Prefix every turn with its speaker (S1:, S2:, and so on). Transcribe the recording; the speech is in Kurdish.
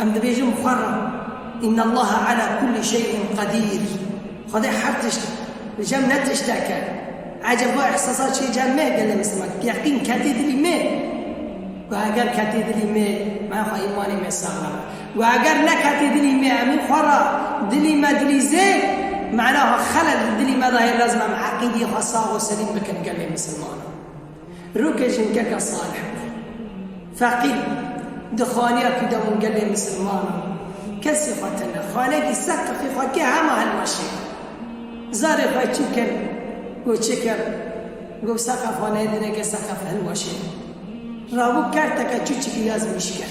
S1: Em dibêjin Xwerram, Innallaha ala kulli şey'in qedîr, Xwedê her tişt e, li cem ne tiştek e. Ecêb va îhsasa çê cem me gelê Misliman, bi yeqîn ketê dilî me. Ku heger ketê dilî me, maya xwe îmanê me saxlem e. Ku heger neketê dilî me, emîn Xwerra, dilî me dilî zêr, manaha xelel di dilî me de hê lezim em eqîdeyê xwe sax û selîm bikin gelê Mislimanan. Rokê jinkeka Salih bû. Feqîr bû. Di xaniya ku de wan gelê misilmanan kesî xwe tine. Xaneyekî sed qifî xwe kir hema hilweşê bû. Zarê xwe çû kir got çi kir? Got seqef xwe nêdine ke seqef hilweşê bû. Rabû kerteke çûçikî ya zimîş kir.